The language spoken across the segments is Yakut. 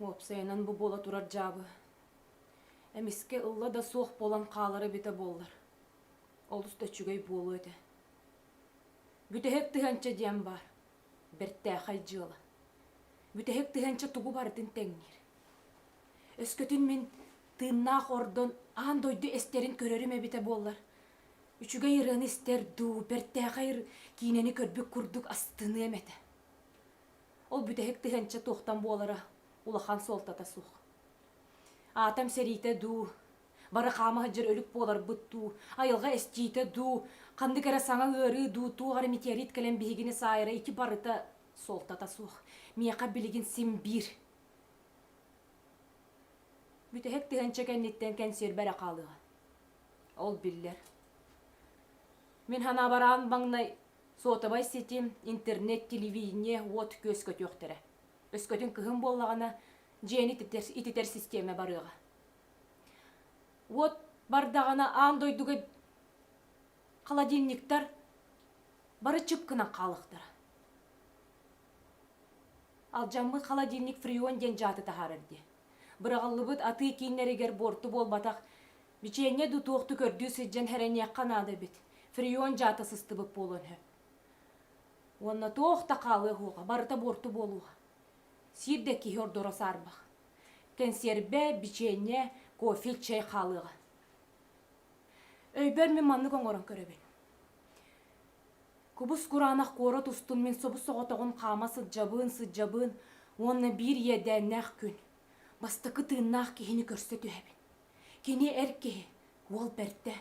Уопсайынан бу буола турар дьаабы эмискэ ылла да суох буолан хаалара эбитэ буоллар олус да үчүгэй буолуо этэ бүтэһик тыһыынча диэн баар бэртээхэй дьыала бүтэһик тыһыынча тугу барытын тэҥниир өскөтүн мин тыыннаах ордон аан дойду эстэрин көрөрүм эбитэ буоллар үчүгэй ырыаны истэр дуу бэртээхэй киинэни көрбүт курдук астыныам этэ Ол бүтэһик тыһыынча туохтан буолара улахан суолтата суох. Аатам сэриитэ дуу, бары хаама сылдьар өлүк буоларбыт дуу, айылҕа эстиитэ дуу, ханнык эрэ саҥа ыарыы дуу, туох эрэ метеорит кэлэн биһигини саайара ити барыта суолтата суох. Миэхэ билигин син биир. Бүтэһик тыһыынча кэнниттэн кэнсиэрбэ эрэ хаалыаҕа. Ол биллэр. Мин санаабараан маҥнай Суотабай сити, интернет, телевидение, уот-күөс көтүөхтэрэ. Өскөтүн кыһын буоллаҕына, дьиэни ититэр, ититэр систиэмэ барыаҕа. Уот бардаҕына аан дойдуга холодильниктар бары чып гынан хаалыахтара. Алдьаммыт холодильник Фрион диэн дьааты таһаарар дии. Быраҕыллыбыт атыы кииннэригэр буорту буолбатах Бичиэнньэ дуу, туохту көрдүү сылдьан сэрэниэххэ наада эбит. Фрион дьаата сыстыбыт буолуон сөп. Уонна туох да хаалыа суоҕа, барыта буорту буолуоҕа. Сиир да киһи ордоро саарбах. Кэнсиэрбэ, бичиэнньэ, кофе, чай хаалыаҕа. Өйбөр мин маннык оҥорон көрөбүн. Кубус кураанах куорат устун мин собус-соҕотоҕун хаама сылдьабын, сылдьабын уонна биир иэдээннээх күн. Бастакы тыыннаах киһини көрсө түһэбин. Кини эр киһи, уол бэрдэ,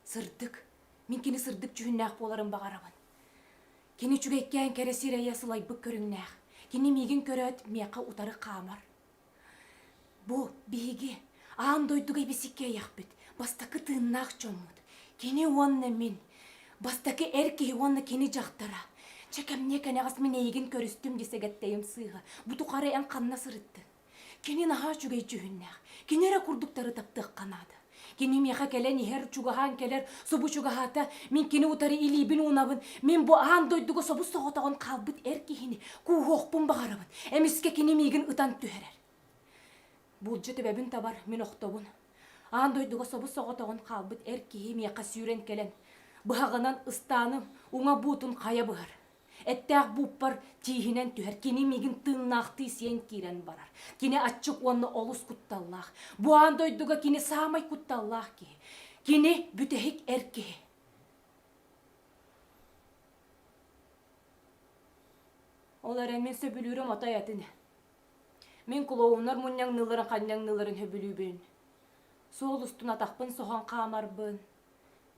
сырдык. Мин кини сырдык дьүһүннээх буоларын баҕарабын. Кини үчүгэйкээн кэрэ сирэйэ сылайбыт көрүҥнээх. Кини миигин көрөөт миэхэ утары хаамар. Бу биһиги аан дойдуга ибисиккээйэхпит бастакы тыыннаах дьоммут. Кини уонна мин. Бастакы эр киһи уонна кини дьахтара. Чэ кэмниэ кэнэҕэс мин эйигин көрүстүм дии сэгэттэйим сыыһа. Бу тухары эн ханна сырыттыҥ? Кини наһаа үчүгэй дьүһүннээх. Кини эрэ курдуктары таптыахха наада. Кини миэхэ кэлэн иһэр, чугаһаан кэлэр, субу чугаһаата, мин кини утары илиибин-уунабын, мин бу аан дойдуга собус-соҕотоҕун хаалбыт эр киһини кууһуохпун баҕарабын. Эмискэ кини миигин ытан түһэрэр. Буулдьа төбөбүн табар, мин охтобун. Аан дойдуга собус-соҕотоҕун хаалбыт эр киһи миэхэ сүүрэн кэлэн, быһаҕынан ыстааным, уҥа буутун хайа быһар. Эттээх бууппар тииһинэн түһэр, кини миигин тыыннаахтыы сиэн киирэн барар. Кини аччык уонна олус кутталлаах. Бу аан дойдуга кини саамай кутталлаах киһи. Кини бүтэһик эр киһи. Ол эрэн мин сөбүлүүрүм отой атын. Мин клоуннар мунньаҥныыларын ханньаҥныыларын сөбүлүүбүн. Суол устун атахпын соһон хаамарбын.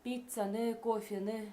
Пиццаны, кофены,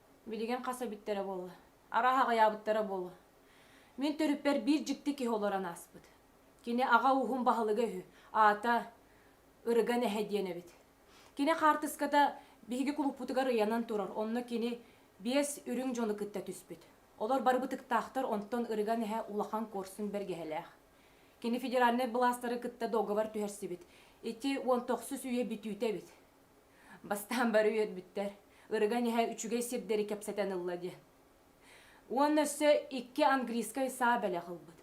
Билигин хас эбиттэрэ буолла? Арааһа аҕыйаабыттара буолуо. Мин төрүппэр биир дьикти киһи олорон ааспыт. Кини аҕа ууһун баһылыга үһү, аата Ырыган эһэ диэн эбит. Кини хаартыската биһиги кулуппутугар ыйанан турар, онно кини биэс үрүҥ дьону кытта түспүт. Олор бары бытыктаахтар, онтон Ырыган эһэ улахан куорсун бэргэһэлээх. Кини федеральнай былаастары кытта договор түһэрсибит. Ити уон тохсус үйэ бүтүүтэ эбит. Бастаан бары үөрбүттэр, ырыган иһэ үчүгэй сирдэри кэпсэтэн ылла диэн. Уонна өссө икки английскай саа бэлэх ылбыт.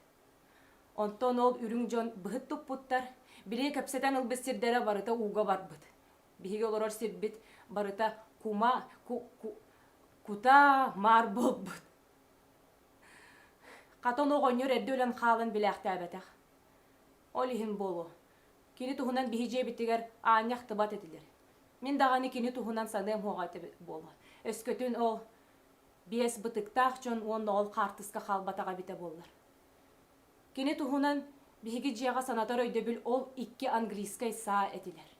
Онтон ол үрүҥ дьон быһыт туппуттар, били кэпсэтэн ылбыт сирдэрэ барыта ууга барбыт. Биһиги олорор сирбит барыта кума, ку, ку, кутаа маар буолбут. Хата ону оҕонньор эрдэ өлөн хаалан билээхтээбэтэх. Ол иһин буолуо, кини туһунан биһи дьиэбитигэр аанньа ахтыбат этилэр. Мин даҕаны кини туһунан саныам-хуоҕа этэ буолуо. Өскөтүн ол биэс бытыктаах дьон уонна ол хаартыска хаалбатаҕа эбитэ буоллар. Кини туһунан биһиги дьиэҕэ санатар өйдөбүл ол икки английскай саа этилэр.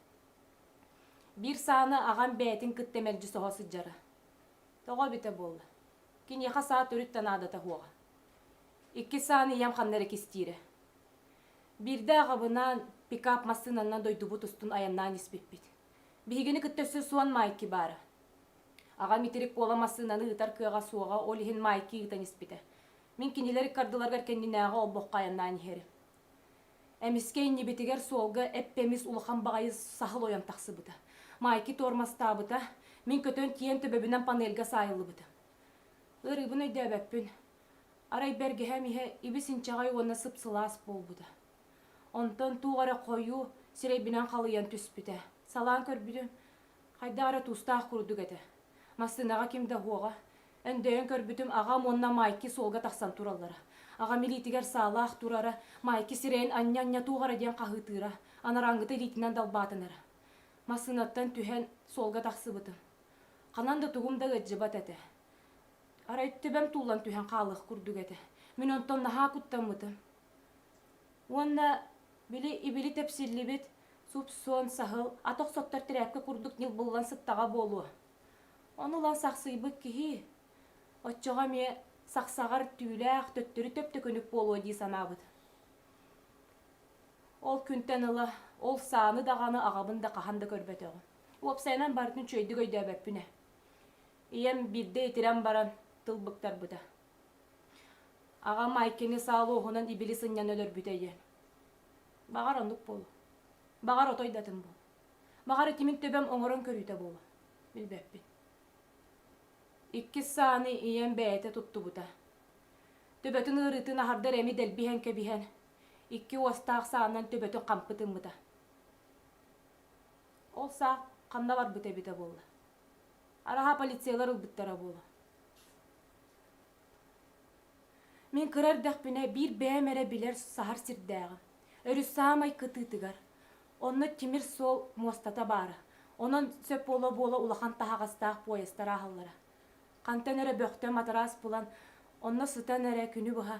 Биир сааны аҕам бэйэтин кытта мэлдьи соһо сылдьара. Тоҕо эбитэ буолла? Киниэхэ саа төрүт да наадата суоҕа. Иккис сааны ийэм ханна эрэ кистиирэ. Биирдэ аҕабынаан пикап массыынаннан дойдубут устун айаннаан испиппит. Биһигини кытта өссө Суон Майки баара. Аҕам итирик буола массыынаны ыытар кыаҕа суоҕа, ол иһин Майки ыытан испитэ. Мин кинилэр иккардыларыгар кэннинээҕи олбоххо айаннаан иһэрим. Эмискэ иннибитигэр суолга эппэмис улахан баҕайы саһыл ойон тахсыбыта. Майки туормастаабыта, мин көтөн тиийэн төбөбүнэн панельга саайыллыбыта. Ырыыбын өйдөөбөппүн. Арай бэргэһэм иһэ ибис-инчэҕэй уонна сып-сылаас буолбута. Онтон туох эрэ хойуу сирэйбинэн халыйан түспүтэ. Салаан көрбүтүм, хайдах эрэ тустаах курдук этэ. Массыынаҕа ким да уһуоҕа. Өндөйөн көрбүтүм, аҕам уонна Майки суолга тахсан тураллара. Аҕам илиитигэр саалаах турара, Майки сирэйин анньа-анньа туох эрэ диэн хаһыытыыра, анараангыта илиитинэн далбаатынара. Массыынаттан түһэн суолга тахсыбытым. Ханан да тугум да ыалдьыбат этэ. Арай тэбэм туулан түһэн хаалыах курдук этэ. Мин онтон наһаа куттаммытым. Уонна били ибили тэпсиллибит суп-суон, саһыл, ат охсоттор тирээпкэ курдук ньыл буллан сыттаҕа буолуо. Ону ылан сахсыйбыт киһи, оччоҕо эмиэ сахсаҕар түүлээх төттөрү төптөкүнүк буолуо дии санаабыт. Ол күнтэн ыла ол сааны даҕаны аҕабын да хаһан да көрбөтөҕүм. Уопсайынан барытын үчүгэйдик өйдөөбөппүн ээ. ийэм биирдэ итирэн баран тыл быктарбыта. Аҕам Айкини саалуоһунан ибили сынньан өлөрбүтэ диэн. Баҕар оннук буолуо. Баҕар отой датын буолуо. Баҕар итимин төбөм оҥорон көрүүтэ буолуо. Билбэппин. Иккис сааны ийэм бэйэтэ туттубута. Төбөтүн ыарыытын аһардар эми дэлбиһэн кэбиһэн, икки уостаах саанан төбөтүн хампы тыммыта. Ол саа ханна барбыта эбитэ буолла? Араһа полициялар ылбыттара буолу. Мин кыра эрдэхпинэ биир бэйэм эрэ билэр саһар сирдээҕи, өрүс саамай кытыытыгар, онно тимир суол муостата баара. Онон сөп буола-буола улахан таһаҕастаах поездтар ааһаллара. Хантан эрэ бөхтө матараас булан, онно сытан эрэ күнү быһа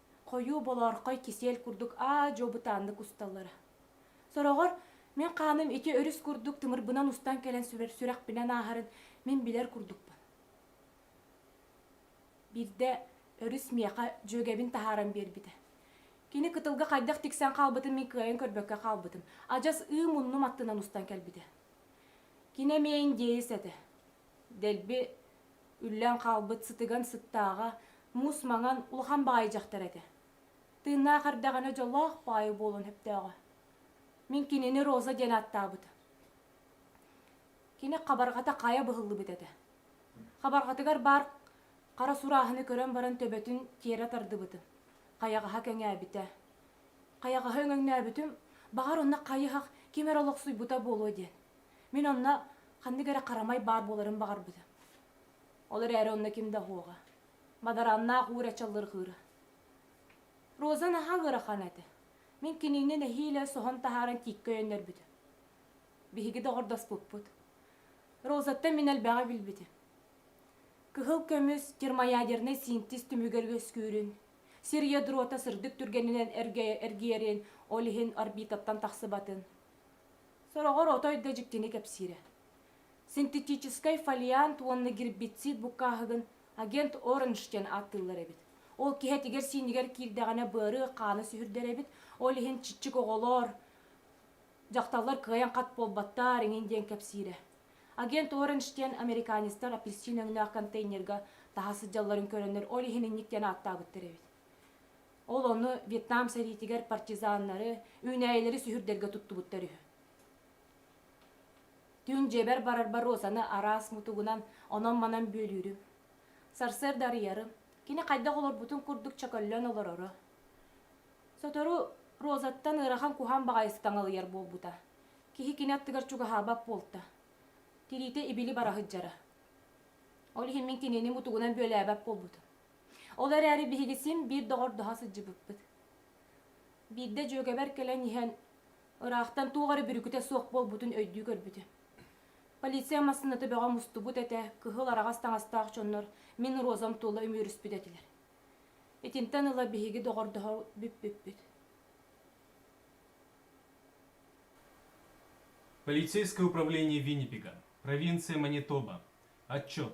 Хойуу болоорхой кисель курдук аа-дьуо бытааннык усталлара. Сороҕор мин хааным ити өрүс курдук тымырбынан устан кэлэн сүрэхпинэн ааһарын мин билэр курдукпун. Биирдэ өрүс миэхэ дьүөгэбин таһааран биэрбитэ. Кини кытылга хайдах тиксэн хаалбытын мин кыайан көрбөккө хаалбытым. Адьас ыы муннум аттынан устан кэлбитэ. Кини эмиэ индеец этэ. Дэлби Үллэн хаалбыт сытыган сыттааҕа муус маҥан улахан баҕайы дьахтар этэ. Тыыннаах эрдэҕинэ дьоллоох баайы буолан сөптөөҕө. Мин кинини Роза диэн ааттаабыта. Кини хабарҕата хайа быһыллыбыт этэ. Хабарҕатыгар баар хара сурааһыны көрөн баран төбөтүн тиэрэ тардыбытым. Хайаҕаһа кэҥээбитэ. Хайаҕаһы өҥөҥнөөбүтүм, баҕар онно хайыһах ким эрэ олохсуйбута буолуо диэн. Мин онно ханнык эрэ харамай баар буоларын баҕарбытым. Ол эрээри онно ким да оһуоҕа. Мадараннаах уур аччаллырҕыыра. Роза наһаа ыарахан этэ. Мин кинини нэһиилэ соһон таһааран тииккэ өйөннөрбүтүм. Биһиги доҕордоспуппут. Розаттан мин элбэҕи билбитим. Кыһыл көмүс термоядернай синтез түмүгэр үөскүүрүн, сир ядрота сырдык түргэнинэн эргийэрин, ол иһин орбитаттан тахсыбатын, Сороҕор отой да дьиктини кэпсиирэ. Синтетическай фолиант уонна гербицид буккааһыгын агент Оранж диэн ааттыыллар эбит. Ол киһэтигэр-сиинигэр киирдэҕинэ быарыы хаана сүһүрдэр эбит, ол иһин чиччик оҕолоор, дьахталлар кыайан хат буолбаттаар иҥин диэн кэпсиирэ. Агент Оранж диэн американецтар апельсин өҥнөөх контейнерга таһа сылдьалларын көрөннөр ол иһин инник диэн ааттаабыттар эбит. Ол ону Вьетнам сэриитигэр партизаннары, үүнээйилэри сүһүрдэргэ туттубуттар үһү. Түүн дьиэбэр барарбар Розаны араас мутугунан, онон-манан бүөлүүрүм. Сарсыарда арыйарым. Кини хайдах олорбутун курдук чөкөллөн олороро. Сотору Розаттан ыарахан куһаан баҕайытык таҥалыйар буолбута. Киһи кини аттыгар чугаһаабат буолта. Тириитэ ибили бара сылдьара. Ол иһин мин кинини мутугунан бүөлээбэт буолбутум. Ол эрээри биһиги син биир доҕордоһо сылдьыбыппыт. Биирдэ дьүөгэбэр кэлэн иһэн, ыраахтан туох эрэ бүрүкүтэ суох буолбутун өйдүү көрбүтэ. Полиция массыыната бөҕө мустубут этэ, кыһыл араҕас таҥастаах дьоннор мин розам туола үмүөрүспүт этилэр. Итинтэн ыла биһиги доҕордоһо бүппүппүт. Полицейское управление Виннипега, провинция Манитоба. Отчет.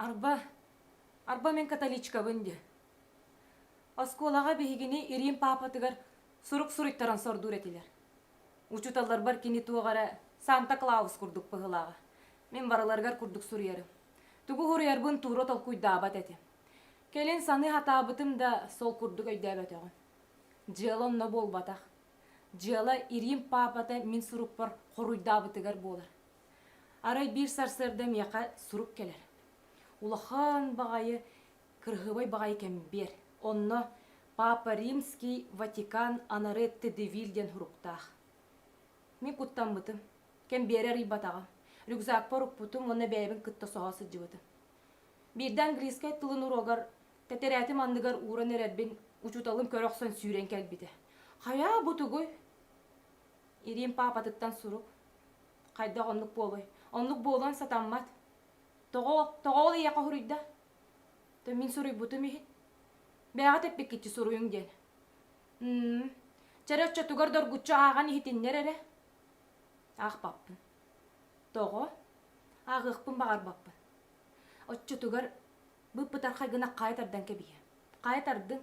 Арба, арба мин католичкабын диэ. Оскуолаҕа биһигини Ирим паапатыгар сурук суруйтаран сордуур этилэр. Учуталларбар кини туох эрэ Санта Клаус курдук быһылааҕа. Мин барыларыгар курдук суруйарым. Тугу суруйарбын туура толкуйдаабат этим. Кэлин саныы сатаабытым да сол курдук өйдөөбөтөҕүм. Дьыала онно буолбатах. Дьыала Ирим паапата мин сурукпар хоруйдаабытыгар буолар. Арай биир сарсыарда миэхэ сурук кэлэр. Улахан баҕайы, кырыһыабай баҕайы кэмбиэр. Онно Папа Римский Ватикан анары ТДВИЛ диэн суруктаах. Мин куттаммытым. Кэмбиэри арыйбатаҕым. Рюкзакпар укпутум уонна бэйэбин кытта соһо сылдьыбытым. Биирдэ английскай тылын уруогар Тэтэрээтим анныгар ууран эрэрбин учууталым көрө охсон сүүрэн кэлбитэ. Хайаа бу тугуй? Ириим паапатыттан сурук. Хайдах оннук буолуй? Оннук буолуон сатаммат. Тоҕо, тоҕо ол ийэ хоһуруйда? То мин суруйбутум иһин. Бэйэҕит эппиккитчи суруйуҥ диэн. М чэрэ оччотугар доргуччу ааҕан иһитиннэр эрэ. Аахпаппын. Тоҕо? Ааҕыахпын баҕарбаппын. Оччотугар Быыппытархай гына хаайа тардан кэбиһиэ. Хаайа тардыҥ.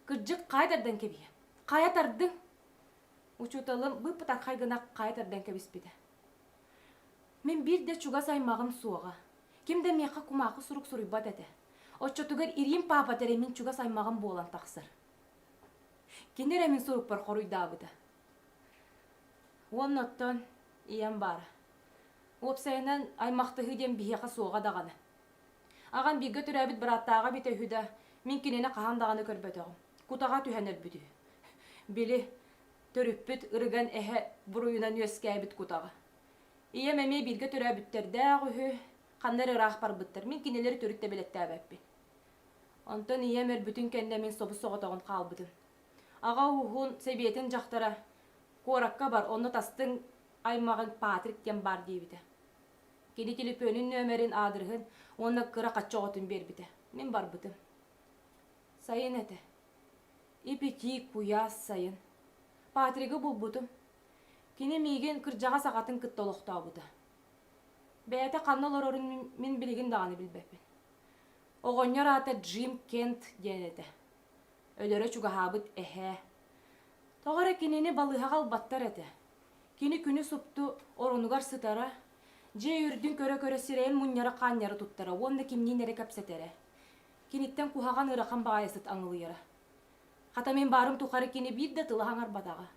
Кырдьык, хаайа тардан кэбиһиэ. Хаайа тардыҥ. Учууталым быыппытархай гына хаайа тардан кэбиспитэ. Мин биир да чугас аймаҕым суоҕа. Ким да миэхэ кумаахы сурук суруйбат этэ. Оччотугар ириим паапат эрэ мин чугас аймаҕым буолан тахсар. Кини эрэ мин сурукпар хоруйдаабыта. Уонна оттон ийэм баара. Уопсайынан аймахтыһыы диэн биһиэхэ суоҕа даҕаны. Аҕам бииргэ төрөөбүт бырааттааҕа эбитэ үһү да, мин кинини хаһан даҕаны көрбөтөҕүм. Кутаҕа түһэн өлбүт үһү. Били, төрүппүт ырыган эһэ буруйунан үөскээбит кутаҕа. Ийэм эмиэ бииргэ төрөөбүттэрдээх үһү, ханна эрэ ыраах барбыттар, мин кинилэри төрүт да бэлэттээбэппин. Онтон ийэм өлбүтүн кэннэ мин собус-соҕотоҕун хаалбытым. Аҕа ууһун сэбиэтин дьахтара «Куоракка бар, онно тастыҥ аймаҕыҥ Патрик диэн баар» диэбитэ. Кини телефонун нөмерин, аадырыһын уонна кыра хачча оҕотун биэрбитэ. Мин барбытым. Сайын этэ. Ипитиик, куйаас сайын. Патригы булбутум. Кини миигин кырдьаҕас аҕатын кытта олохтообута. Бэйэтэ ханна олорорун мин билигин даҕаны билбэппин. Оҕонньор аата Джим Кент диэн этэ. Өлөрө чугаһаабыт эһээ. Тоҕо эрэ кинини балыыһаҕа ылбаттар этэ. Кини күнү супту оронугар сытара, дьиэ үрдүн көрө-көрө сирэйин мунньара-хаанньара туттара уонна кимниин эрэ кэпсэтэрэ. Киниттэн куһаҕан ыарахан баҕайытык аҥылыйара. Хата мин баарым тухары кини биир да тыла хаҥарбатаҕа.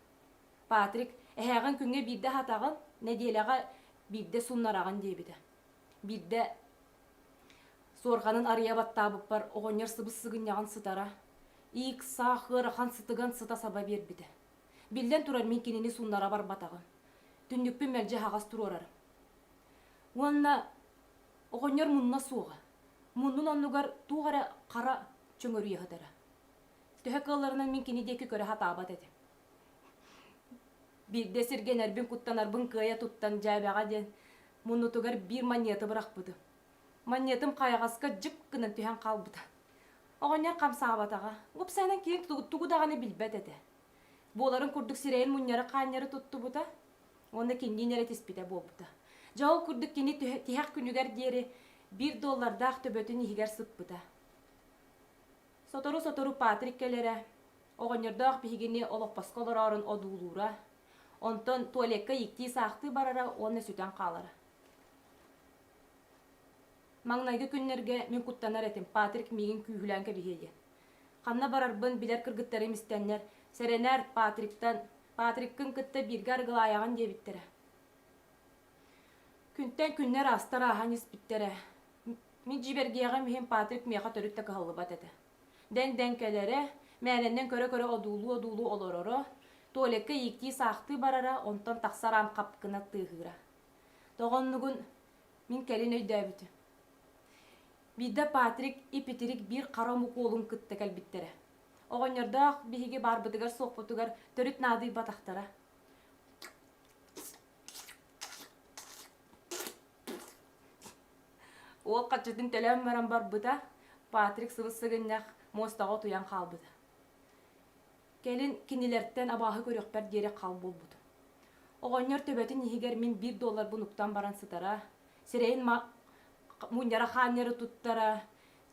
Патрик, эһээҕин күҥҥэ биирдэ аһатаҕын, нэдиэлэҕэ биирдэ суннараҕын диэбитэ. Биирдэ суорҕанын арыйа баттаабыппар оҕонньор сыбыс-сыгынньаҕын сытара, иик-саах ыарахан сытыган сыта саба биэрбитэ. Биллэн турар, мин кинини суннара барбатаҕым. Түннүкпүн мэлдьи аһаҕас туруорар. Уонна оҕонньор мунна суоҕа. Муннун оннугар туох эрэ хара чөҥөрүйэ сытара. Төһө кыалларынан мин кини диэки көрө сатаабат этим. Биирдэ сиргэнэрбин куттанарбын кыайа туттан дьээбэҕэ диэн муннутугар биир манньыаты бырахпытым. Манньатым хайаҕаска дьып гынан түһэн хаалбыта. Оҕонньор хамсаабатаҕа. Уопсайынан киһим тугу, тугу даҕаны билбэт этэ. Буоларын курдук сирэйин мунньары-хаанньары туттубута уонна кинини эрэ тиспитэ буолбута. Дьэ ол курдук кини тиһэх күнүгэр диэри биир доллардаах төбөтүн иһигэр сыппыта. Сотору-сотору Патрик кэлэрэ, оҕонньордоох биһигини олоппоско олороорун одуулуура, онтон туалекка ииктии-саахтыы барара уонна сүтэн хаалара. Маҥнайгы күннэргэ мин куттанар этим, Патрик миигин күүһүлээн кэбиһиэ диэн. Ханна барарбын билэр кыргыттарым истэннэр, сэрэнээр Патриктан, Патриккын кытта бииргэ арыгылаайаҕын диэбиттэрэ. Күнтэн күннэр аастар ааһан испиттэрэ. Мин дьиибэргиэҕим иһин Патрик миэхэ төрүт да кыһаллыбат этэ. Дэҥдэҥкэлэрэ, мээнэннэн көрө-көрө одуулуу-одуулуу олороро, Толикка ииктии-саахтыы барара, онтон тахсар аам хапкына тыаһыыра. Тоҕоннугун мин кэлин өйдөөбүтүм. Биирдэ Патрик ипитирик биир хара омук уолун кытта кэлбиттэрэ. Оҕонньордоох биһиги баарбытыгар-суохпутугар төрүт наадыйбатахтара. Уол хаччытын төлөөн баран барбыта, Патрик сыбыс-сыгынньах муостаҕа утуйан хаалбыта. Кэлин кинилэртэн абааһы көрүөхпэр диэри хал буолбутум. Оҕонньор төбөтүн иһигэр мин биир долларбын уктан баран сытара, сирэйин мунньара-хаанньара туттара,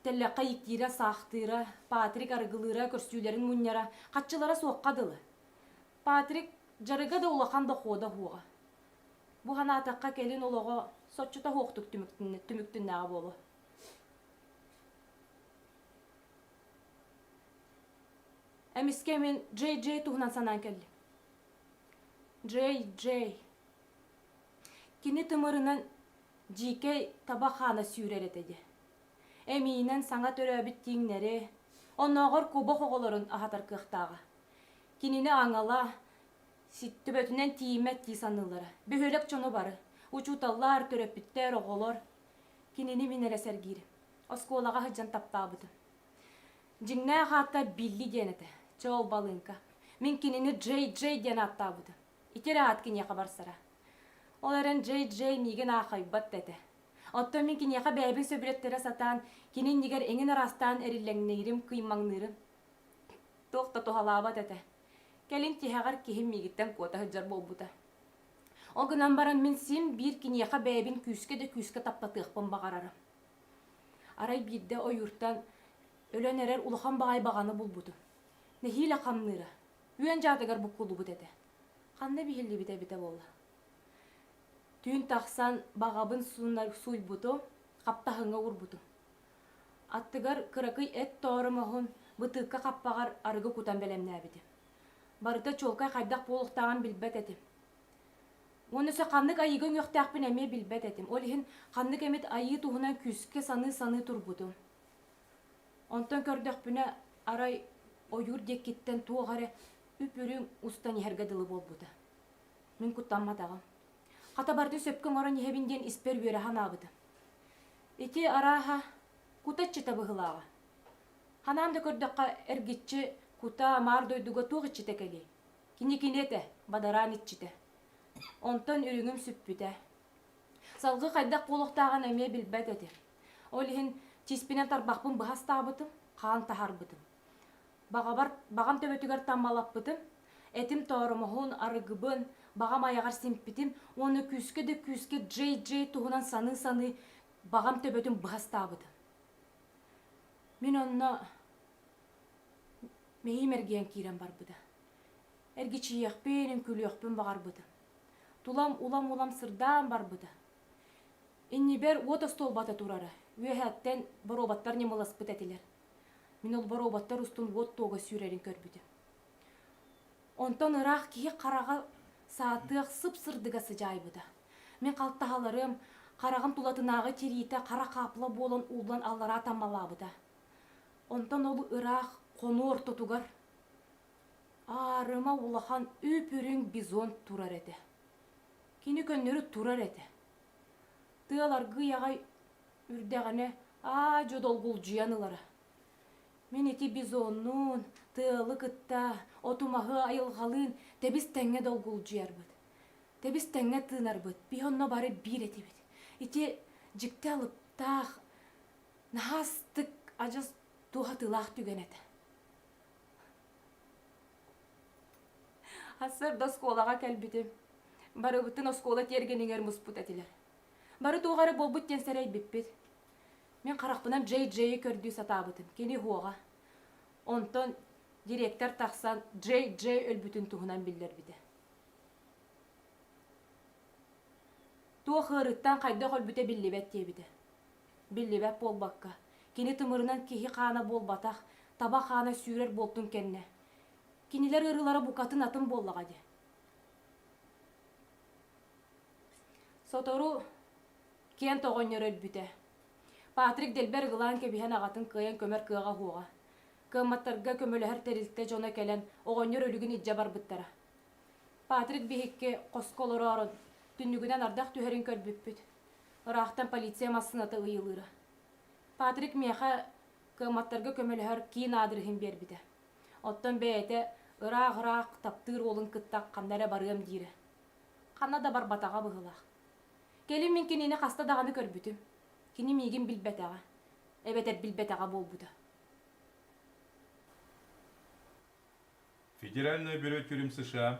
тэллэххэ ииктиирэ-саахтыыра, Патрик арыгылыыра, көрсүүлэрин мунньара, хаччылара суохха дылы. Патрик дьарыга да улахан дохуота суоҕа. Бу санаатахха кэлин олоҕо соччото суохтук түмүктүннэҕэ буолуо. Эмискэ мин Джей Джей туһунан санаан кэллим. Джей Джей. Кини тымырынан дьиикэй таба хаана сүүрэр этэ дии. Эмиинэн саҥа төрөөбүт тииҥнэри, оннооҕор кубок оҕолорун аһатар кыахтааҕа. Кинини аҥала, төбөтүнэн тиийиммэт дии саныыллара. Бөһүөлэк дьоно бары, учууталлар, төрөппүттэр, оҕолор. Кинини мин эрэ сэргиирим. оскуолаҕа сылдьан таптаабытым. Дьиҥнээх аата Билли диэн этэ. Чоол балыыҥка. Мин кинини Джей Джей диэн ааттаабытым. Ити эрэ аат киниэхэ барсара. Ол эрэн Джей Джей миигин аахайбат да этэ. Оттон мин киниэхэ бэйэбин сөбүлэттэрэ сатаан, кини иннигэр эҥин араастаан эриллэҥнэһирим, кыймаҥныырым. Туох да туһалаабат этэ. Кэлин тиһэҕэр киһим миигиттэн куота сылдьар буолбута. Ол гынан баран мин син биир киниэхэ бэйэбин күүскэ да күүскэ таптатыахпын баҕарарым. Арай биирдэ ойууртан өлөн эрэр улахан баҕайы баҕаны булбутум. Нэһиилэ хамныыра, үөн дьаатыгар буккуллубут этэ. Ханна биһиллибит эбитэ буолла? Түүн тахсан баҕабын суунар сууйбутум, хаптаһыҥҥа уурбутум. Аттыгар кыракый эт тоору моһун бытыыкка хаппаҕар арыгы кутан бэлэмнээбитим. Барыта чуолкай хайдах буолуохтааҕын билбэт этим. Уонна өссө ханнык айыыга үҥүөхтээхпин эмиэ билбэт этим. Ол иһин ханнык эмит айыы туһунан күүскэ саныы-саныы турбутум. Онтон көрдөхпүнэ, арай ойуур диэкиттэн туох эрэ үп-үрүҥ устан иһэргэ дылы буолбута. Мин куттамматаҕым. Хата барытын сөпкө оҥорон иһэбин диэн испэр үөрэ санаабытым. Ити арааһа кута иччитэ быһыылааҕа. Ханаан да көрдөххө эргиччи кута, маар дойдуга туох иччитэ кэлиэй? Кини кини этэ, бадараан иччитэ. Онтон үрүҥүм сүппүтэ. Салгыы хайдах буолуохтааҕын эмиэ билбэт этим. Ол иһин чиспинэн тарбахпын быһа астаабытым, хаан таһарбытым. Баҕабар, баҕам төбөтүгэр таммалаппытым, этим тооромоһун, арыгыбын, баҕам айаҕар симпитим уонна күүскэ да күүскэ дьэй-дьэй туһунан саныы-саныы баҕам төбөтүн быһа астаабытым. Мин онно Миһим эргийэн киирэн барбыта. Эргичийиэхпин, үҥкүүлүөхпүн баҕарбытым. Тулам улам-улам сырдаан барбыта. Иннибэр уот остуолбата турара. Үөһэттэн боруобаттар ньымыласпыт этилэр. Мин ол боруобаттар устун уот туога сүүрэрин көрбүтүм. Онтон ыраах киһи хараҕа саатыах сып-сырдыга сыдьаайбыта. Мин халтаһаларым, хараҕым тулатынааҕы тириитэ хара хаапла буолан ууллан аллараа таммалаабыта. Онтон ол ыраах хону ортотугар аарыма улахан үп-үрүҥ бизон турар этэ. Кини көннөрү турар этэ. Тыал аргый аҕай үрдэҕинэ аа-дьо долгулдьуйан ылара. Мин ити бизоннуун, тыалы кытта, отумаһы айылҕалыын тэбис-тэҥҥэ долгулдьуйарбыт, тэбис-тэҥҥэ тыынарбыт, бии онно бары биир этибит. Ити дьикти алыптаах наһаастык адьас туоһатыылаах түгэн этэ сарда оскуолаҕа кэлбитим барыбытын оскуола тиэргэнигэр муспут этилэр бары туох эрэ буолбут диэн сэрэйбиппит мин харахпынан джей джейи көрдүү сатаабытым кини уһуоҕа онтон директор тахсан джей джей өлбүтүн туһунан биллэрбитэ туох ыарыыттан хайдах өлбүтэ биллибэт диэбитэ Биллибэт буолбакка, кини тымырынан киһи хаана буолбатах, таба хаана сүүрэр буолтун кэннэ, кинилэр ырылара букатын атын буоллаҕа дии. Сотору Кент оҕонньор өлбүтэ. Патрик дэлбэр ылаан кэбиһэн аҕатын кыайан көмөр кыаҕа уһуоҕа. Кыамматтарга көмөлөһөр тэрилтэ дьоно кэлэн оҕонньор өлүгүн илдьэ барбыттара. Патрик биһикки хоско олороорун, түннүгүнэн ардах түһэрин көрбүппүт. Ыраахтан полиция массыыната ыйылыыра. Патрик миэхэ кыамматтарга көмөлөһөр киин аадырыһын биэрбитэ. Оттон бэйэтэ ыраах-ыраах таптыыр уолун кытта ханна эрэ барыам диирэ. Ханна да барбатаҕа быһыылаах. Кэлин мин кинини хаста даҕаны көрбүтүм. Кини миигин билбэтэҕэ, эбэтэр билбэтэҕэ буолбута. Федеральное бюро тюрем США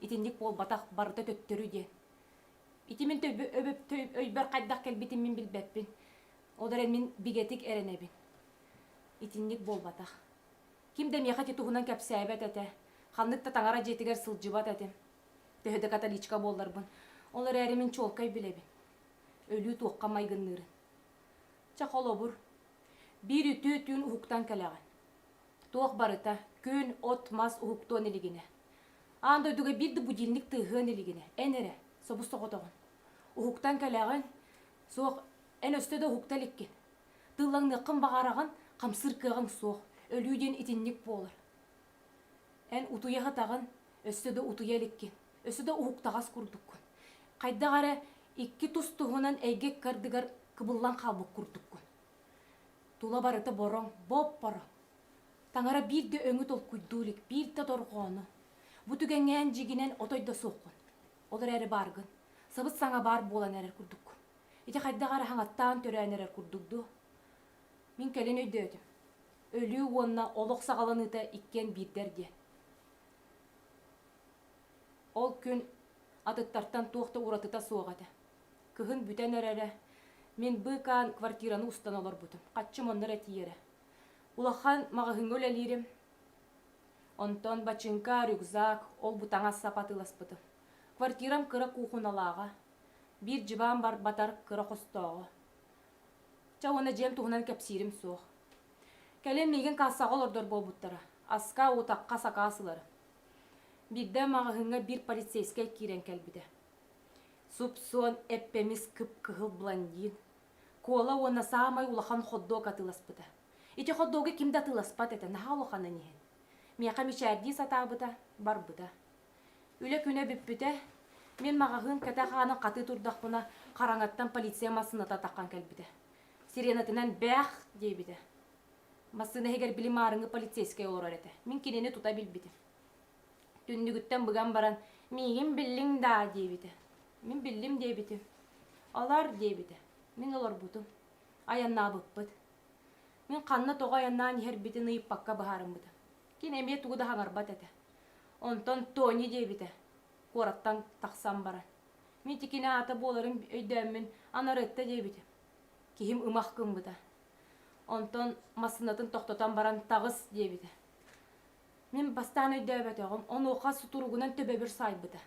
итинник буолбатах, барыта төттөрү диэ. Ити мин өйбөр хайдах кэлбитин мин билбэппин. Ол эрэн мин бигэтик эрэнэбин. Итинник буолбатах. Ким да миэхэ ити туһунан кэпсээбэт этэ. Ханнык да таҥара дьиэтигэр сылдьыбат этим. Төһө да католичка буолларбын. Ол эрээри мин чуолкай билэбин. Өлүү туохха майгынныырын. Чэ холобур, биир үтүө түүн уһуктан кэлэҕин. Туох барыта, күн, от, мас уһуктуон илигинэ. Аан дойдуга биир да будильник тыаһыан илигинэ, эн эрэ, собус соҕотоҕун. Уһуктан кэлэҕин, суох, эн өстө да уһукта иликкин. Тыыллаҥныаххын баҕараҕын, хамсыыр кыаҕыҥ суох, өлүү диэн итинник буолар. Эн утуйа сытаҕын, өссө да утуйа иликкин, өссө да уһуктаҕас курдуккун. Хайдах эрэ икки тус туһунан эйгэ икки ардыгар кыбыллан хаалбыт курдуккун. Тула барыта бороҥ, боп-боро. Таҥара биир да өҥү толкуйдуу илик, биир да дорҕоону. Бу түгэҥҥээн дьиигинэн отой да суоххун. Ол эрээри бааргын. Сабыс-саҥа баар буолан эрэр курдук. Ити хайдах эрэ хаҥаттаан төрөөн эрэр курдук дуо? Мин кэлин өйдөөтүм. Өлүү уонна олох саҕаланыыта иккиэн биирдэр диэн. Ол күн атыттартан туох да уратыта суох этэ. Кыһын бүтэн эрэрэ. Мин быыкаан квартираны устан олорбутум. Хаччым оннор этийэрэ. Улахан маҕаһыыҥҥа үлэлиирим. Онтон бачыыҥка, рюкзак, ол-бу таҥас сапа атыыласпытым. Квартирам кыра куухуналааҕа. Биир дьыбаан барбатар кыра хостооҕо. Чэ уонна дьиэм туһунан кэпсиирим суох. Кэлин миигин кассаҕа олордор буолбуттара. Аска, утахха сакаас ыларын. Биирдэ маҕаһыыҥҥа биир полицейскай киирэн кэлбитэ. Суп-суон, эппэмис, кып-кыһыл блондин. Куола уонна саамай улахан хот-дог атыыласпыта. Ити хот-догу ким да атыыласпат этэ, наһаа улаханын иһин. Миэхэ мичээрдии сатаабыта, барбыта. Үлэ күнэ бүппүтэ. Мин маҕаһыын кэтэх аанын хатыы турдахпына, хараҥаттан полиция массыыната таххан кэлбитэ. Сиренатынан «Бээх!» диэбитэ. Массыына иһигэр били маарыҥы полицейскай олорор этэ. Мин кинини тута билбитим. Түннүгүттэн быган баран, «Миигин биллиҥ даа?» диэбитэ. «Мин биллим» диэбитим. «Олор» диэбитэ. Мин олорбутум. Айаннаабыппыт. Мин ханна тоҕо айаннаан иһэрбитин ыйыппакка быһаарыммытым. Кини эмиэ тугу да хаҥарбат этэ. Онтон Тони диэбитэ куораттан тахсан баран. Мин итикини аата буоларын өйдөөммүн Анарытта диэбитим. Киһим ымах гыммыта. Онтон массыынатын тохтотон баран «Таҕыс» диэбитэ. Мин бастаан өйдөөбөтөҕүм, онуоха сутуругунан төбөбүр саайбыта.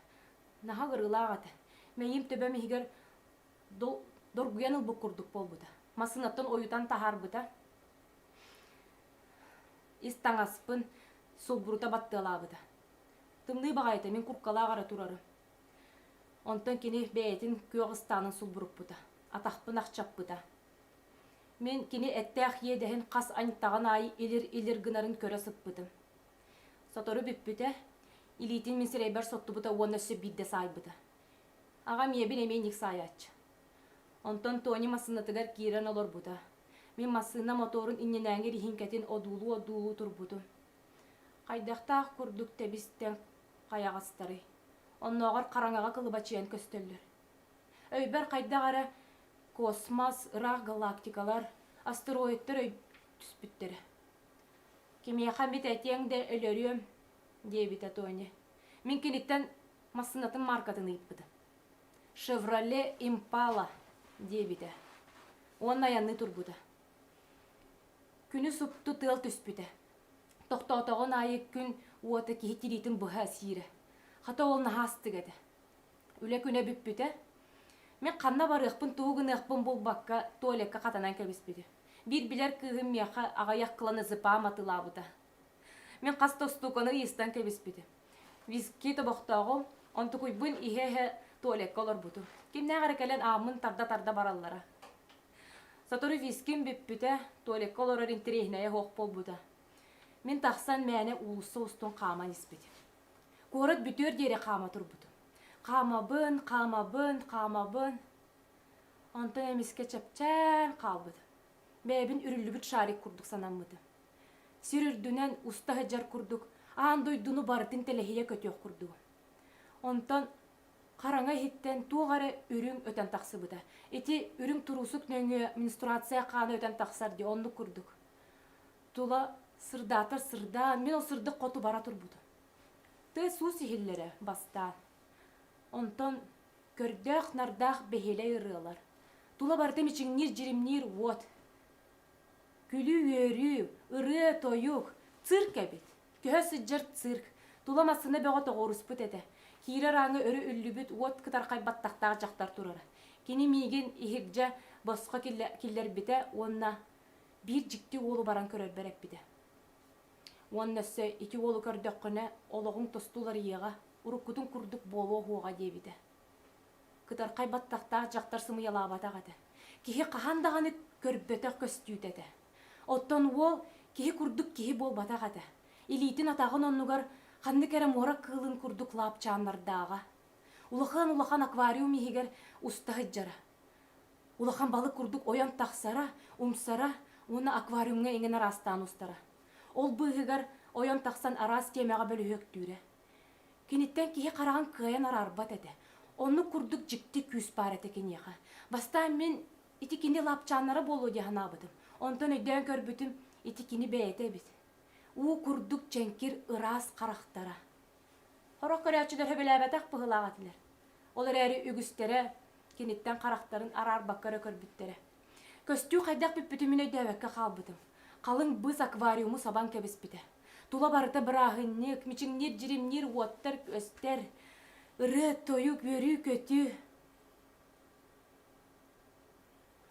Наһаа кырыылаах этэ. Мэйиим төбөм иһигэр доргуйан ылбыт курдук буолбута. Массыынаттан ойутан таһаарбыта. Ис таҥаспын, сулбурута баттыалаабыта. Тымныы баҕайы этэ, мин курткалаах эрэ турарым. Онтон кини бэйэтин күөх ыстаанын сулбуруппута. Атахпын ахчаппыта. Мин кини эттээх иэдэһин хас аньтаҕын аайы илир-илир гынарын көрө сыппытым. Сотору бүппүтэ, илиитин мин сирэйбэр соттубута уонна өссө биирдэ саайбыта. Аҕам ийэбин эмиэ иник саайааччы. Онтон Тони массыынатыгар киирэн олорбута. Мин массыына мотуорун иннинээҥи риһиҥкэтин одуулуу-одуулуу турбутум. Хайдахтаах курдук тэбистэн хайаҕастарый? Оннооҕор хараҥаҕа кылыбачыйан көстөллөр. Өйбөр хайдах эрэ космос, ыраах галактикалар, астероидтар өй түспүттэрэ. Кимиэхэ эмит этиэҥ да өлөрүөм, диэбитэ Тони. Мин киниттэн массыынатын мааркатын ыйыппытым. Шевроле Импала диэбитэ. Уонна айанныы турбута. Күнү супту тыал түспүтэ. Тохтоотоҕун аайы күн уота киһи тириитин быһа сиирэ. Хата ол наһаастык этэ. Үлэ күнэ бүппүтэ. Мен ханна барыахпын, тугу гыныахпын булбакка, туалекка хатанан кэбиспитим. Биир билэр кыыһым миэхэ аҕыйах кыланы зыпаам атылаабыта. Мен хас да устууканы ыйыстан кэбиспитим. Виски тобохтооҕум, онтукуйбун иһэ-иһэ туалекка олорбутум. Кимнээх эрэ кэлэн ааммын тарда-тарда бараллара. Сотору виским бүппүтэ, туалекка олорор интэриэһинэйэ суох буолбута. Мен тахсан мээнэ уулусса устун хааман испитим. Куорат бүтүөр диэри хаама турбутум. Хаамабын, хаамабын, хаамабын. Онтон эмискэ чэпчээн хаалбытым. Бэйэбин үрүллүбүт шарик курдук санаммытым. Сир үрдүнэн уста сылдьар курдук аан дойдуну барытын тэлэһийэ көтүөх курдугум. Онтон хараҥа иһиттэн туох эрэ үрүҥ өтөн тахсыбыта. Ити үрүҥ туруусук нөҥүө менструация хаана өтөн тахсар дии, оннук курдук. Тула сырдаатар сырдаан, мэл сырдык хоту бара турбута. Тыа суус иһиллэрэ бастаан. Онтон көрдөөх-нардаах бэһиэлэй ырыалар, тула барыта мичиҥниир, дьиримниир уот. Күлүү-үөрүү, ырыа-тойук, цирк эбит. Көһө сылдьар цирк, тула массыына бөҕө тоҕуоруспут этэ. Киирэр ааҥы өрө үллүбүт уот кытархай баттахтаах дьахтар турара. Кини миигин иһирдьэ босхо киллэрбитэ уонна Биир дьикти уолу баран көрөрбөр эппитэ. Уонна өссө ити уолу көрдөххүнэ, олоҕуҥ тосту уларыйыаҕа, уруккутуҥ курдук буолуо уоҕа диэбитэ. Кытархай баттахтаах дьахтар сымыйалаабатах этэ. Киһи хаһан даҕаны көрбөтөх көстүүтэ этэ. Оттон уол киһи курдук киһи буолбатах этэ. Илиитин-атаҕын оннугар ханнык эрэ муора кыылын курдук лаапчааннардааҕа. Улахан-улахан аквариум иһигэр уста сылдьара. улахан балык курдук ойон тахсара, умсара уонна аквариумҥа иҥэн араастаан устара. Ол быыһыгар ойон тахсан араас тиэмэҕэ бөлүһүөктүүрэ. Киниттэн киһи хараҕын кыайан араарбат этэ. Оннук курдук дьикти күүс баар этэ киниэхэ. Бастаан мин ити кини лапчааннара буолуо дии санаабытым. Онтон өйдөөн көрбүтүм, ити кини бэйэтэ эбит. Уу курдук чэҥкир ыраас харахтара. Сорох көрөөччүлэр сөбүлээбэтэх быһыылаах этилэр. Ол эрээри үгүстэрэ киниттэн харахтарын араарбакка эрэ көрбүттэрэ. Көстүү хайдах бүппүтүн мин өйдөөбөккө хаалбытым. Халыҥ быыс аквариуму сабан кэбиспитэ. Тула барыта бырааһынньык, мичиҥниир, дьиримниир уоттар өстөр, ырыа, тойук, үөрүү-көтүү.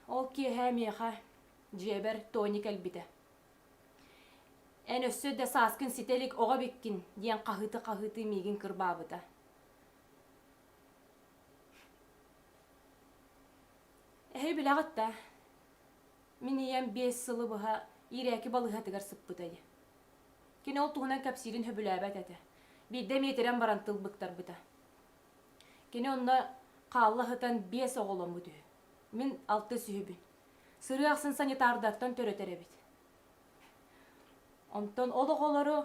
Ол киэһэ миэхэ дьиэбэр Тони кэлбитэ. Эн өссө да сааскын ситэ илик оҕо эбиккин диэн хаһыыты-хаһыытыы миигин кырбаабыта. Эһи билэҕит да, мин ийэм биэс сылы быһа иирээки балыыһатыгар сыппытай. Кини ол туһунан кэпсиирин сөбүлээбэт этэ. Биирдэ миэтирэн баран тыл быктарбыта. Кини онно хаалла сытан биэс оҕоломмут үһү. Мин алтыс үһүбүн. Сырыы ахсын санитардартан төрөтөр эбит. Онтон ол оҕолору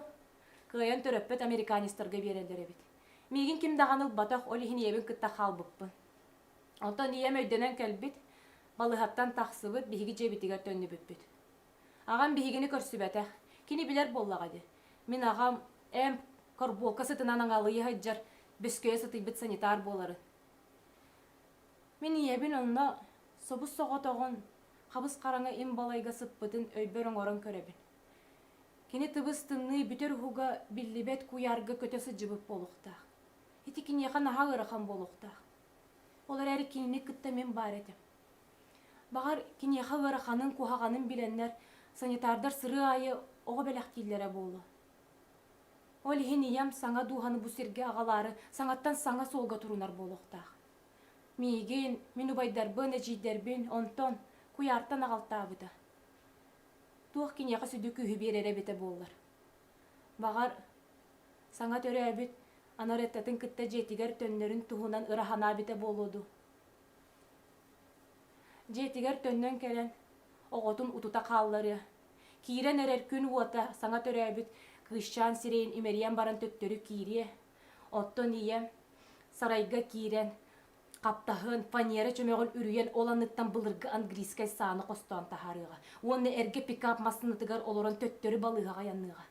кыайан төрөппөт американецтарга биэрэллэр эбит. Миигин ким даҕаны ылбатах, ол иһин ийэбин кытта хаалбыппын. Оттон ийэм өйдөнөн кэлбит, балыһаттан тахсыбыт, биһиги дьиэбитигэр төннүбүппүт. Аҕам биһигини көрсүбэтэх. Кини билэр буоллаҕа дии. Мин аҕам эм корбуолка сытынан аҥалыйа сылдьар, бөскөйө сытыйбыт санитар буоларын. Мин ийэбин онно собус соҕотоҕун, хабыс-хараҥа им балайга сыппытын өйбөр оҥорон көрөбүн. Кини тыбыс-тымныы бүтэр уһуга биллибэт куйаарга көтө сылдьыбыт буолуохтаах. Ити киниэхэ наһаа ыарахан буолуохтаах. Ол эрээри кинини кытта мин баар этим. Баҕар, киниэхэ ыараханын, куһаҕанын билэннэр, санитардар сырыы аайы оҕо бэлэхтииллэрэ буолуо. Ол иһин ийэм саҥа дууһаны бу сиргэ аҕалаары саҥаттан саҥа суолга турунар буолуохтаах. Миигин, мин убайдарбын, эдьиийдэрбин онтон, куйаартан аҕалтаабыта. Туох киниэхэ сүдү күүһү биэрэрэ эбитэ буоллар. Баҕар, саҥа төрөөбүт Анареттатын кытта дьиэтигэр төннөрүн туһунан ыра санаабитэ буолуо дуу. Дьиэтигэр төннөн кэлэн, оҕотун утута хаалларыа, киирэн эрэр күн уота саҥа төрөөбүт кыысчаан сирэйин имэрийэн баран төттөрү киириэ, оттон ийэ сарайга киирэн Хаптаһын, фанера чөмөҕүн үрүйэн ол анныттан былыргы английскай сааны хостоон таһаарыаҕа уонна эргэ пикап массыынатыгар олорон төттөрү балыыһаҕа айанныаҕа.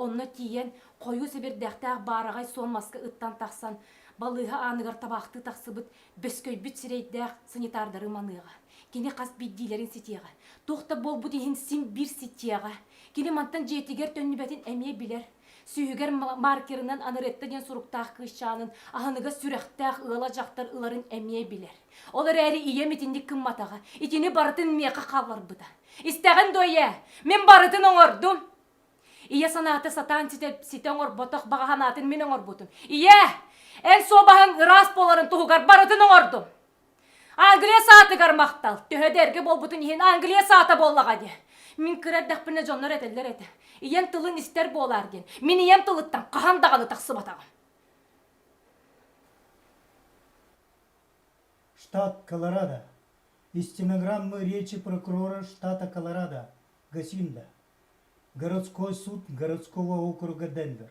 Онно тиийэн, хойуу сэбирдэхтээх баараҕай суон маска ыттан тахсан, балыыһа ааныгар табаахтыы тахсыбыт бөскөйбүт сирэйдээх санитардары маныаҕа. Кини хас биирдиилэрин ситиэҕэ. Туох да буолбут иһин син биир ситиэҕэ. Кини мантан дьиэтигэр төннүбэтин эмиэ билэр. Сүүһүгэр маркерынан Анаретта диэн суруктаах кыысчаанын аһыныгас сүрэхтээх ыала дьахтар ыларын эмиэ билэр. Ол эрээри ийэм итинник гымматаҕа, итини барытын миэхэ хаалларбыта. Истэҕин дуо ийээ, мин барытын оҥордум. Ийэ санаата сатаан ситэ, ситэ оҥорботох баҕа санаатын мин оҥорбутум. Ийээ, эн суобаһыҥ ыраас буоларын туһугар барытын оҥордум. Англия саатыгар махтал. Төһө да эргэ буолбутун иһин Англия саата буоллаҕа дии. Мин кыра эрдэхпинэ дьоннор этэллэр этэ. Ийэм тылын истэр буолаар диэн. Мин ийэм тылыттан хаһан даҕаны тахсыбатаҕым. Штат Колорадо. Из стенограммы речи прокурора штата Колорадо, Гасинда. Городской суд городского округа Денвер.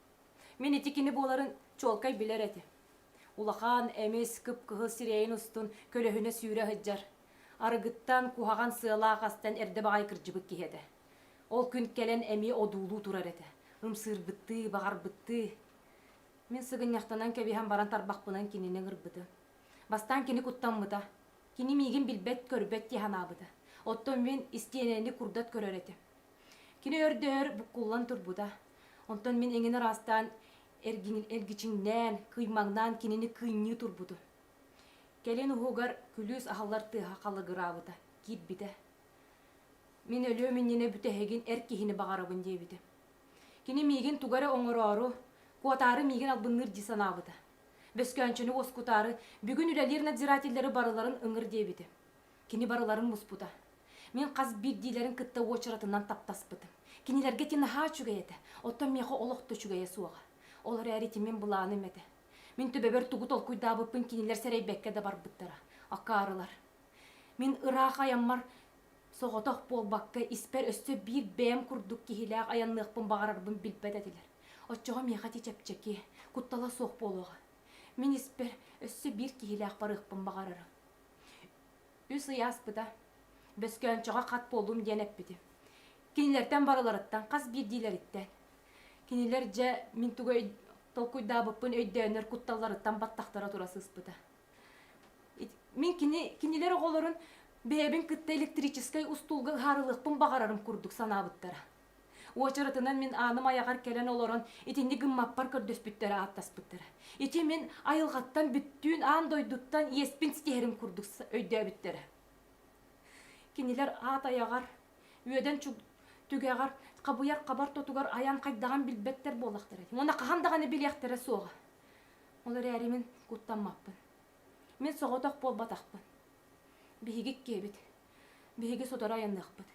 Мин ити кини буоларын чуолкай билэр этим. Улахан, эмис, кып-кыһыл сирэйин устун көлөһүнэ сүүрэ сылдьар, арыгыттан куһаҕан сыалаах астан эрдэ баҕайы кырдьыбыт киһи этэ. Ол күн кэлэн эмиэ одуулуу турар этэ, ымсыырбыттыы, баҕарбыттыы. Мин сыгынньахтанан кэбиһэн баран тарбахпынан кинини ыҥырбытым. Бастаан кини куттаммыта. Кини миигин билбэт-көрбөт дии санаабыта. Оттон мин истиэнэни курдат көрөр этим. Кини өрдөһөр буккуллан турбута. Онтон мин эҥин ыраастаан эргичиҥнээн, кыймаҥнаан кинини кыынньыы турбутум. Кэлин уһугар күлүүс аһыллар тыаһа халыгыраабыта, киирбитэ. Мин өлүөм иннинэ бүтэһигин эр киһини баҕарабын диэбитим. Кини миигин туга эрэ оҥороору, куотаары миигин албынныыр дии санаабыта. Бөскөөнчөнү уоскутаары бүгүн үлэлиир надзирателлэри барыларын ыҥыр диэбитим. Кини барыларын муспута. Мин хас биирдиилэрин кытта уочаратынан таптаспытым. Кинилэргэ ити наһаа үчүгэй этэ, оттон миэхэ олох да үчүгэйэ суоҕа. Ол эрээри ити мин былааным этэ. Мин төбөбөр тугу толкуйдаабыппын кинилэр сэрэйбэккэ да барбыттара. Акаарылар. Мин ыраах айаммар соҕотох буолбакка, испэр өссө биир бэйэм курдук киһилээх айанныахпын баҕарарбын билбэт этилэр. Оччоҕо миэхэ ити чэпчэки, куттала суох буолуоҕа. Мин испэр өссө биир киһилээх барыахпын баҕарарым. Үс ый ааспыта. Бөскөөнчөҕө хат буоллум диэн эппитим. Кинилэртэн барыларыттан, хас биирдиилэриттэн. Кинилэр дьэ мин тугай толкуйдаабыппын өйдөөнөр кутталларыттан баттахтара тура сыспыта. Мин кини, кинилэр оҕолорун бэйэбин кытта электрическэй устуулга ыһаарылыахпын баҕарарым курдук санаабыттара. Уочаратынан мин ааным айаҕар кэлэн олорон итинник гыммаппар көрдөспүттэрэ ааттаспыттара. Ити мин айылҕаттан бүттүүн аан дойдуттан иэспин ситиһэрин курдук өйдөөбүттэрэ. Кинилэр аат айаҕар, үөдэн түгэҕэр, хабыйар хабар тотугар айан хайдаҕын билбэттэр буоллахтара ити. Уонна хаһан даҕаны билиэхтэрэ суоҕа. Ол эрээри мин куттаммаппын. Мин соҕотох буолбатахпын. Биһиги киэбит. Биһиги сотору айанныахпыт.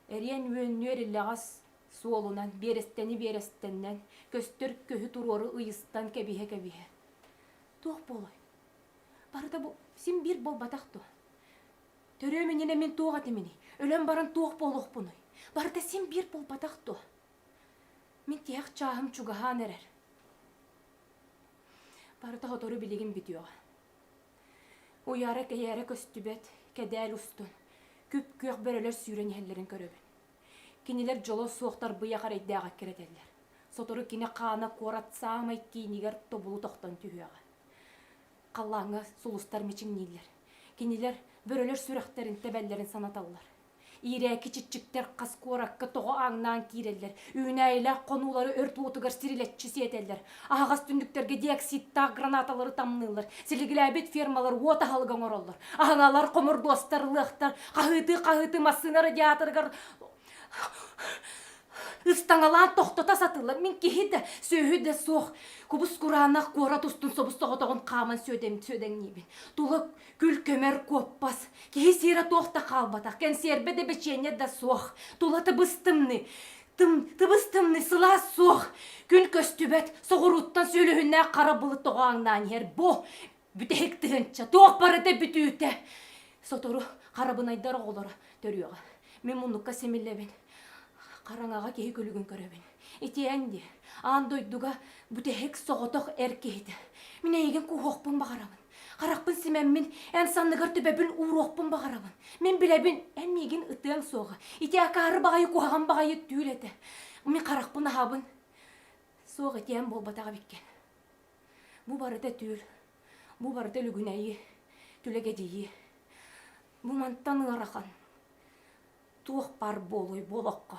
эриэн-үөннүөр илэҕэс суолунан, биэрэстэни биэрэстэннэн, көстөр көһү туруору ыйыстан кэбиһэ-кэбиһэ. Туох буолуой? Барыта бу син биир буолбатах дуо? Төрүөм иннинэ мин туох этиминий? Өлөн баран туох буолуохпунуй? Барыта син биир буолбатах дуо? Мин тиһэх чааһым чугаһаан эрэр. Барыта сотору билигин бүтүөҕэ. Уйаара-тэйээрэ көстүбэт, кэдээл устун, күп-күөх бөрөлөр сүүрэн иһэллэрин көрөбүн. Кинилэр дьоло суох тарбыйах эрэйдээх эккирэтэллэр. Сотору кини хаана куорат саамай киинигэр тобулу тохтон түһүөҕэ. Халлааҥҥа сулустар мичиҥнииллэр. Кинилэр бөрөлөр сүрэхтэрин тэбэллэрин санаталлар. Иирээки чиччиктэр хас куоракка тоҕо ааҥнаан киирэллэр, үүнээйилээх хонуулары өрт уотугар сирилэччи сиэтэллэр, аһаҕас түннүктэргэ диоксидтаах гранаталары тамныыллар, силиглээбит фермалар уот аһылыга оҥороллор, аһыҥалар, хомурдуостар, ылыахтар, хаһыытыы-хаһыытыы массыына радиаторыгар ыстаҥалаан тохтото сатыыллар. Мин киһи да, сүөһү да суох кубус кураанах куорат устун собус соҕотоҕун хааман сүөдэҥ, сүөдэҥниибин. Тула Күл-көмөр куоппас. Киһи сиэрэ туох да хаалбатах, кэнсиэрбэ да бэчиэнньэ да суох. Тула тыбыс-тымныы. Тым, тыбыс-тымныы, сылаас суох. Күн көстүбэт, соҕурууттан сүөлүһүннээх хара былыт тоҕо аҥнаан иһэр. Бо, бүтэһик тыһыынча, туох барыта бүтүүтэ. Сотору харабынайдар оҕолоро төрүөҕэ. Мин муннукка симиллэбин. Хараҥаҕа киһи күлүгүн көрөбүн. Итиэн дии, аан дойдуга бүтэһик соҕотох эр киһитэ. Мин эйигин кууһуохпун баҕарабын. Харахпын симэммин, эн санныгар төбөбүн ууруохпун баҕарабын. Мин билэбин, эн миигин ытыаҥ суоҕа. Ити акаары баҕайы куһаҕан баҕайы түүл этэ. Мин харахпын аһабын. Суох этиэм буолбатах эбиккин. Бу барыта түүл. Бу барыта лүгүнэйи, түлэгэдьийи. Бу мантан ыарахан. Туох бар буолуй буолахха.